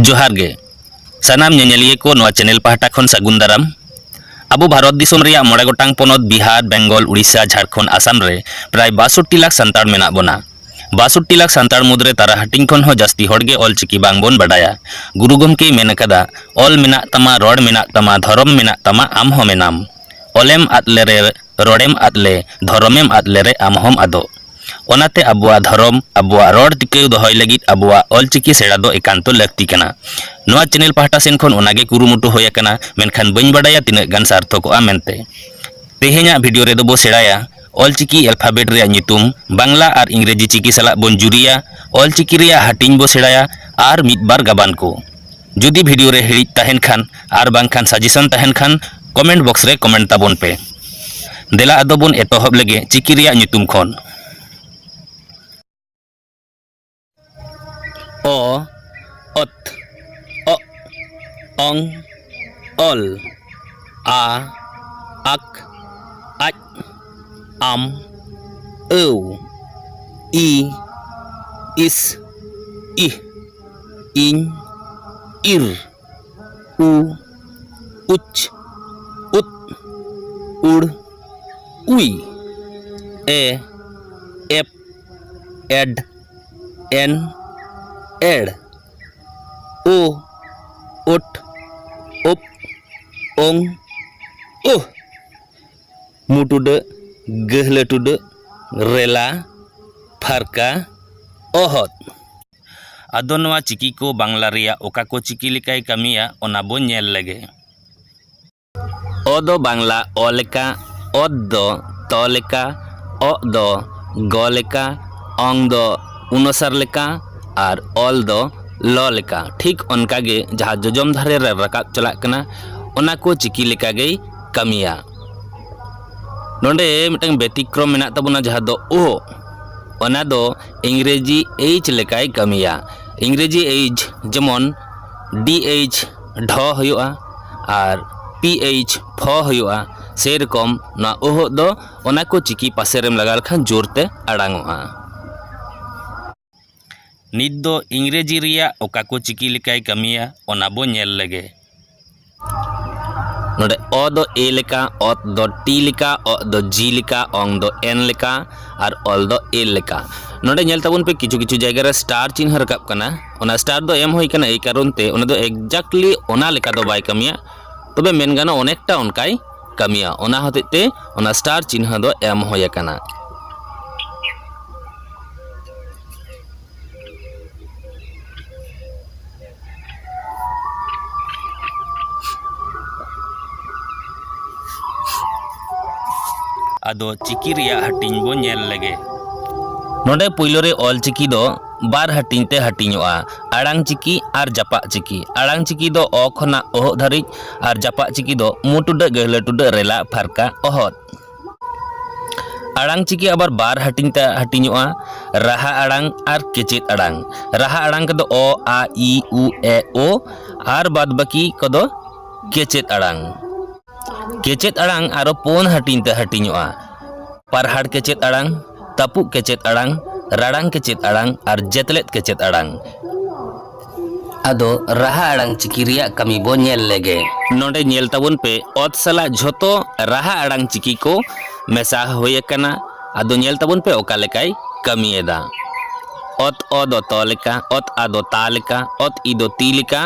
ᱡᱚᱦᱟᱨ ᱜᱮ ᱥᱟᱱᱟᱢ ᱧᱮᱧᱮᱞᱤᱭᱟᱹ ᱠᱚ ᱱᱚᱣᱟ ᱪᱮᱱᱮᱞ ᱯᱟᱦᱴᱟ ᱠᱷᱚᱱ ᱥᱟᱹᱜᱩᱱ ᱫᱟᱨᱟᱢ ᱟᱵᱚ ᱵᱷᱟᱨᱚᱛ ᱫᱤᱥᱚᱢ ᱨᱮᱭᱟᱜ ᱢᱚᱬᱮ ᱜᱚᱴᱟᱝ ᱯᱚᱱᱚᱛ ᱵᱤᱦᱟᱨ ᱵᱮᱝᱜᱚᱞ ᱩᱲᱤᱥᱥᱟ ᱡᱷᱟᱲᱠᱷᱚᱸᱰ ᱟᱥᱟᱢ ᱨᱮ ᱯᱨᱟᱭ ᱵᱟᱥᱚᱴᱴᱤ ᱞᱟᱠᱷ ᱥᱟᱱᱛᱟᱲ ᱢᱮᱱᱟᱜ ᱵᱚᱱᱟ ᱵᱟᱥᱚᱴᱴᱤ ᱞᱟᱠᱷ ᱥᱟᱱᱛᱟᱲ ᱢᱩᱫᱽᱨᱮ ᱛᱟᱨᱟ ᱦᱟᱹᱴᱤᱧ ᱠᱷᱚᱱ ᱦᱚᱸ ᱡᱟᱹᱥᱛᱤ ᱦᱚᱲ ᱜᱮ ᱚᱞ ᱪᱤᱠᱤ ᱵᱟᱝ ᱵᱚᱱ ᱵᱟᱰᱟᱭᱟ ᱜᱩᱨᱩ ᱜᱚᱢᱠᱮ ᱢᱮᱱ ᱟᱠᱟᱫᱟ ᱚᱞ ᱢᱮᱱᱟᱜ ᱛᱟᱢᱟ ᱨᱚᱲ ᱢᱮᱱᱟᱜ ᱛᱟᱢᱟ ᱫᱷᱚᱨᱚᱢ ᱢᱮᱱᱟᱜ ᱛᱟᱢᱟ ᱟᱢ ᱦᱚᱸ ᱢᱮᱱᱟᱢ ᱚᱞᱮᱢ ᱟᱫ ᱞᱮᱨᱮ ᱨᱚᱲᱮᱢ ᱟᱫ ᱞᱮ ᱫᱷᱚᱨᱚᱢᱮᱢ ᱟᱫ ᱞᱮ ᱨᱮ ᱟᱢ ᱦᱚᱸᱢ ᱟᱫᱚᱜ᱾ ᱚᱱᱟᱛᱮ ᱟᱵᱚᱣᱟᱜ ᱫᱷᱚᱨᱚᱢ, ᱟᱵᱚᱣᱟᱜ ᱨᱚᱲ ᱴᱤᱠᱟᱹᱣ ᱫᱚᱦᱚᱭ ᱞᱟᱹᱜᱤᱫ ᱟᱵᱚᱣᱟᱜ ᱚᱞ ᱪᱤᱠᱤ ᱥᱮᱬᱟ ᱫᱚ ᱮᱠᱟᱱᱛᱚ ᱞᱟᱹᱠᱛᱤ ᱠᱟᱱᱟ᱾ ᱱᱚᱣᱟ ᱪᱮᱱᱮᱞ ᱯᱟᱦᱴᱟ ᱥᱮᱱ ᱠᱷᱚᱱ ᱚᱱᱟ ᱜᱮ ᱠᱩᱨᱩᱢᱩᱴᱩ ᱦᱳᱭ ᱟᱠᱟᱱᱟ ᱢᱮᱱᱠᱷᱟᱱ ᱵᱟᱹᱧ ᱵᱟᱰᱟᱭᱟ ᱛᱤᱱᱟᱹᱜ ᱜᱟᱱ ᱥᱟᱨᱛᱷᱚᱠᱚᱜᱼᱟ ᱢᱮᱱᱛᱮ᱾ ᱛᱮᱦᱮᱧᱟᱜ ᱵᱷᱤᱰᱤᱭᱳ ᱨᱮᱫᱚ ᱵᱚ ᱥᱮᱬᱟᱭᱟ ᱚᱞ ᱪᱤᱠᱤ ᱮᱞᱯᱷᱟᱵᱮᱴ ᱨᱮᱭᱟᱜ ᱧᱩᱛᱩᱢ, ᱵᱟᱝᱞᱟ ᱟᱨ ᱤᱝᱨᱮᱡᱤ ᱪᱤᱠᱤ ᱥᱟᱞᱟᱜ ᱵᱚᱱ ᱡᱩᱨᱤᱭᱟ, ᱚᱞ ᱪᱤᱠᱤ ᱨᱮᱭᱟᱜ ᱦᱟᱹᱴᱤᱧ ᱵᱚ ᱥᱮᱬᱟᱭᱟ ᱟᱨ ᱢᱤᱫ ᱵᱟᱨ ᱜᱟᱵᱟᱱ ᱠᱚ᱾ ᱡᱩᱫᱤ ᱵᱷᱤᱰᱤᱭᱳ ᱨᱮ ᱦᱤᱲᱤᱡ ᱛᱟᱦᱮᱱ ᱠᱷᱟᱱ ᱟᱨ ᱵᱟᱝᱠᱷᱟᱱ ᱥᱟᱡᱮᱥᱚᱱ ᱛᱟᱦᱮᱱ ᱠᱷᱟᱱ ᱠᱚᱢᱮᱱᱴ ᱵᱚᱠᱥ ᱨᱮ ᱠᱚᱢᱮᱱᱴ ᱛᱟᱵᱚᱱ ᱯᱮ ᱫᱮᱞᱟ ᱟᱫᱚ ᱵᱚᱱ ᱮᱛᱚᱦᱚᱵ ᱞᱮᱜᱮ ᱪᱤᱠᱤ ᱨᱮᱭᱟᱜ ᱧᱩᱛᱩᱢ ᱠᱷᱚᱱ ᱚ ᱚᱛ ᱚ ᱚᱝ ᱚᱞ ᱟ ᱟᱠ ᱟᱡ ᱟᱢ ᱟᱹᱣ ᱤ ᱤᱥ ᱤᱦ ᱤᱧ ᱤᱨ ᱩ ᱩᱪ ᱩᱫ ᱩᱲ ᱩᱭ ᱮ ᱮᱯ ᱮᱰ ᱮᱱ ᱮᱲ ᱳ ᱳᱴ ᱳᱯ ᱳᱝ ᱳᱦ ᱢᱩ ᱴᱩᱰᱟᱹᱜ ᱜᱟᱹᱦᱞᱟᱹ ᱴᱩᱰᱟᱹᱜ ᱨᱮᱞᱟ ᱯᱷᱟᱨᱠᱟ ᱚᱦᱚᱫ ᱟᱫᱚ ᱱᱚᱣᱟ ᱪᱤᱠᱤ ᱠᱚ ᱵᱟᱝᱞᱟ ᱨᱮᱭᱟᱜ ᱚᱠᱟ ᱠᱚ ᱪᱤᱠᱤ ᱞᱮᱠᱟᱭ ᱠᱟᱹᱢᱤᱭᱟ ᱚᱱᱟ ᱵᱚ ᱧᱮᱞ ᱞᱮᱜᱮ᱾ ᱚ ᱫᱚ ᱵᱟᱝᱞᱟ ᱚ ᱞᱮᱠᱟ, ᱚᱛ ᱫᱚ ᱛ ᱞᱮᱠᱟ, ᱚᱜ ᱫᱚ ᱜ ᱞᱮᱠᱟ, ᱚᱝ ᱫᱚ ᱩᱱᱚᱥᱟᱨ ᱞᱮᱠᱟ ᱟᱨ ᱚᱞ ᱫᱚ ᱞ ᱞᱮᱠᱟ ᱴᱷᱤᱠ ᱚᱱᱠᱟ ᱜᱮ ᱡᱟᱦᱟᱸ ᱡᱚᱡᱚᱢ ᱫᱷᱟᱨᱮ ᱨᱮ ᱨᱟᱠᱟᱵ ᱪᱟᱞᱟᱜ ᱠᱟᱱᱟ ᱚᱱᱟ ᱠᱚ ᱪᱤᱠᱤ ᱞᱮᱠᱟ ᱜᱮᱭ ᱠᱟᱹᱢᱤᱭᱟ᱾ ᱱᱚᱰᱮ ᱢᱤᱫᱴᱟᱝ ᱵᱮᱛᱤᱠᱨᱚᱢ ᱢᱮᱱᱟᱜ ᱛᱟᱵᱚᱱᱟ ᱡᱟᱦᱟᱸ ᱫᱚ ᱳ ᱚᱱᱟ ᱫᱚ ᱤᱝᱨᱮᱡᱤ ᱮᱭᱤᱡᱽ ᱞᱮᱠᱟᱭ ᱠᱟᱹᱢᱤᱭᱟ ᱤᱝᱨᱮᱡᱤ ᱮᱭᱤᱡᱽ ᱡᱮᱢᱚᱱ ᱰᱤ ᱮᱭᱤᱪ ᱰᱷᱚ ᱦᱩᱭᱩᱜᱼᱟ ᱟᱨ ᱯᱤ ᱮᱭᱤᱪ ᱯᱷᱚ ᱦᱩᱭᱩᱜᱼᱟ ᱥᱮᱨᱚᱠᱚᱢ ᱱᱚᱣᱟ ᱚᱦᱚᱜ ᱫᱚ ᱚᱱᱟ ᱠᱚ ᱪᱤᱠᱤ ᱯᱟᱥᱮ ᱨᱮᱢ ᱞᱟᱜᱟᱣ ᱞᱮᱠᱷᱟᱱ ᱡᱳᱨ ᱛᱮ ᱟᱲᱟᱝ ᱚᱜᱼᱟ ᱱᱤᱛ ᱫᱚ ᱤᱝᱨᱮᱡᱤ ᱨᱮᱭᱟᱜ ᱚᱠᱟ ᱠᱚ ᱪᱤᱠᱤ ᱞᱮᱠᱟᱭ ᱠᱟᱹᱢᱤᱭᱟ ᱚᱱᱟ ᱵᱚ ᱧᱮᱞ ᱞᱮᱜᱮ ᱱᱚᱰᱮ ᱚ ᱫᱚ ᱮ ᱞᱮᱠᱟ ᱚᱛ ᱫᱚ ᱴᱤ ᱞᱮᱠᱟ ᱚ ᱫᱚ ᱡᱤ ᱞᱮᱠᱟ ᱚᱝ ᱫᱚ ᱮᱱ ᱞᱮᱠᱟ ᱟᱨ ᱚᱞ ᱫᱚ ᱮᱞ ᱞᱮᱠᱟ ᱱᱚᱰᱮ ᱧᱮᱞ ᱛᱟᱵᱚᱱ ᱯᱮ ᱠᱤᱪᱷᱩ ᱠᱤᱪᱷᱩ ᱡᱟᱭᱜᱟ ᱨᱮ ᱥᱴᱟᱨ ᱪᱤᱱᱦᱟᱹ ᱨᱟᱠᱟᱵ ᱠᱟᱱᱟ ᱚᱱᱟ ᱥᱴᱟᱨ ᱫᱚ ᱮᱢ ᱦᱩᱭ ᱠᱟᱱᱟ ᱮᱭ ᱠᱟᱨᱚᱱ ᱛᱮ ᱚᱱᱟ ᱫᱚ ᱮᱠᱡᱟᱠᱴᱞᱤ ᱚᱱᱟ ᱞᱮᱠᱟ ᱫᱚ ᱵᱟᱭ ᱠᱟᱹᱢᱤᱭᱟ ᱛᱚᱵᱮ ᱢᱮᱱ ᱜᱟᱱᱚᱜᱼᱟ ᱚᱱᱮᱠᱴᱟ ᱚᱱᱠᱟᱭ ᱠᱟᱹᱢᱤᱭᱟ ᱚᱱᱟ ᱦᱚᱛᱮᱡ ᱛᱮ ᱚᱱᱟ ᱥᱴᱟᱨ ᱪᱤᱱᱦᱟᱹ ᱫᱚ ᱮᱢ ᱦᱩᱭ ᱟᱠᱟᱱᱟ ᱟᱫᱚ ᱪᱤᱠᱤ ᱨᱮᱭᱟᱜ ᱦᱟᱹᱴᱤᱧ ᱵᱚ ᱧᱮᱞ ᱞᱮᱜᱮ ᱱᱚᱰᱮ ᱯᱩᱭᱞᱩ ᱨᱮ ᱚᱞ ᱪᱤᱠᱤ ᱫᱚ ᱵᱟᱨ ᱦᱟᱹᱴᱤᱧ ᱛᱮ ᱦᱟᱹᱴᱤᱧᱚᱜᱼᱟ ᱟᱲᱟᱝ ᱪᱤᱠᱤ ᱟᱨ ᱡᱟᱯᱟᱜ ᱪᱤᱠᱤ ᱟᱲᱟᱝ ᱪᱤᱠᱤ ᱫᱚ ᱚ ᱠᱷᱚᱱᱟᱜ ᱚᱦᱚᱜ ᱫᱷᱟᱹᱨᱤᱡ ᱟᱨ ᱡᱟᱯᱟᱜ ᱪᱤᱠᱤ ᱫᱚ ᱢᱩ ᱴᱩᱰᱟᱹᱜ ᱜᱟᱹᱦᱞᱟᱹ ᱴᱩᱰᱟᱹᱜ ᱨᱮᱞᱟᱜ ᱯᱷᱟᱨᱠᱟ ᱚᱦᱚᱫ ᱟᱲᱟᱝ ᱪᱤᱠᱤ ᱟᱵᱟᱨ ᱵᱟᱨ ᱦᱟᱹᱴᱤᱧ ᱛᱮ ᱦᱟᱹᱴᱤᱧᱚᱜᱼᱟ ᱨᱟᱦᱟ ᱟᱲᱟᱝ ᱟᱨ ᱠᱮᱪᱮᱫ ᱟᱲᱟᱝ ᱨᱟᱦᱟ ᱟᱲᱟᱝ ᱠᱚᱫᱚ ᱚ ᱟ ᱤ ᱩ ᱮ ᱳ ᱟᱨ ᱵᱟᱫ ᱵᱟᱹᱠᱤ ᱠᱚᱫᱚ ᱠᱮᱪᱮᱫ ᱟᱲᱟᱝ ᱠᱮᱪᱮᱫ ᱟᱲᱟᱝ ᱟᱨᱚ ᱯᱩᱱ ᱦᱟᱹᱴᱤᱧ ᱛᱮ ᱦᱟᱹᱴᱤᱧᱚᱜᱼᱟ ᱯᱟᱨᱦᱟᱲ ᱠᱮᱪᱮᱫ ᱟᱲᱟᱝ ᱛᱟᱹᱯᱩᱜ ᱠᱮᱪᱮᱫ ᱟᱲᱟᱝ ᱨᱟᱲᱟᱝ ᱠᱮᱪᱮᱫ ᱟᱲᱟᱝ ᱟᱨ ᱡᱮᱛᱞᱮᱫ ᱠᱮᱪᱮᱫ ᱟᱲᱟᱝ ᱟᱫᱚ ᱨᱟᱦᱟ ᱟᱲᱟᱝ ᱪᱤᱠᱤ ᱨᱮᱭᱟᱜ ᱠᱟᱹᱢᱤ ᱵᱚ ᱧᱮᱞ ᱞᱮᱜᱮ᱾ ᱱᱚᱸᱰᱮ ᱧᱮᱞ ᱛᱟᱵᱚᱱ ᱯᱮ ᱚᱛ ᱥᱟᱞᱟᱜ ᱡᱷᱚᱛᱚ ᱨᱟᱦᱟ ᱟᱲᱟᱝ ᱪᱤᱠᱤ ᱠᱚ ᱢᱮᱥᱟ ᱦᱩᱭ ᱟᱠᱟᱱᱟ᱾ ᱟᱫᱚ ᱧᱮᱞ ᱛᱟᱵᱚᱱ ᱯᱮ ᱚᱠᱟ ᱞᱮᱠᱟᱭ ᱠᱟᱹᱢᱤ ᱮᱫᱟ᱾ ᱚᱛ ᱚ ᱫᱚ ᱛᱚ ᱞᱮᱠᱟ, ᱚᱛ ᱟ ᱫᱚ ᱛᱟ ᱞᱮᱠᱟ, ᱚᱛ ᱤ ᱫᱚ ᱛᱤ ᱞᱮᱠᱟ,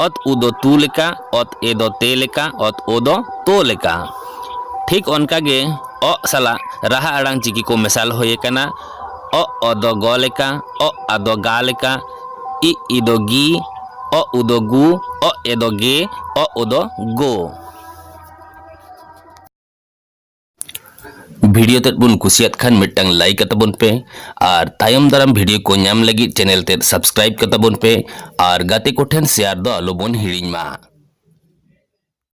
ᱚᱛ ᱩ ᱫᱚ ᱛᱩ ᱞᱮᱠᱟ, ᱚᱛ ᱮ ᱫᱚ ᱛᱮ ᱞᱮᱠᱟ, ᱚᱛ ᱳ ᱫᱚ ᱛᱳ ᱞᱮᱠᱟ᱾ ᱴᱷᱤᱠ ᱚᱱᱠᱟ ᱜᱮ ᱚᱜ ᱥᱟᱞᱟᱜ ᱨᱟᱦᱟ ᱟᱲᱟᱝ ᱪᱤᱠᱤ ᱠᱚ ᱢᱮᱥᱟᱞ ᱦᱩᱭ ᱟᱠᱟᱱᱟ᱾ ᱚᱜ ᱚ ᱫᱚ ᱜᱚ ᱞᱮᱠᱟ, ᱚᱜ ᱟ ᱫᱚ ᱜᱟ ᱞᱮᱠᱟ᱾ ᱤ ᱤ ᱫᱚ ᱜᱤ ᱚ ᱩ ᱫᱚ ᱜᱩ ᱚ ᱮ ᱫᱚ ᱜᱮ ᱚ ᱳ ᱫᱚ ᱜᱳ ᱵᱷᱤᱰᱤᱭᱳ ᱛᱮᱫ ᱵᱚᱱ ᱠᱩᱥᱤᱭᱟᱫ ᱠᱷᱟᱱ ᱢᱤᱫᱴᱟᱝ ᱞᱟᱭᱤᱠ ᱠᱟᱛᱟ ᱵᱚᱱ ᱯᱮ ᱟᱨ ᱛᱟᱭᱚᱢ ᱫᱟᱨᱟᱢ ᱵᱷᱤᱰᱤᱭᱳ ᱠᱚ ᱧᱟᱢ ᱞᱟᱹᱜᱤᱫ ᱪᱮᱱᱮᱞ ᱛᱮᱫ ᱥᱟᱵᱥᱠᱨᱟᱭᱤᱵ ᱠᱟᱛᱟ ᱵᱚᱱ ᱯᱮ ᱟᱨ ᱜᱟᱛᱮ ᱠᱚᱴᱷᱮᱱ ᱥᱮᱭᱟᱨ ᱫᱚ ᱟᱞᱚ ᱵᱚᱱ ᱦᱤᱲᱤᱧ ᱢᱟ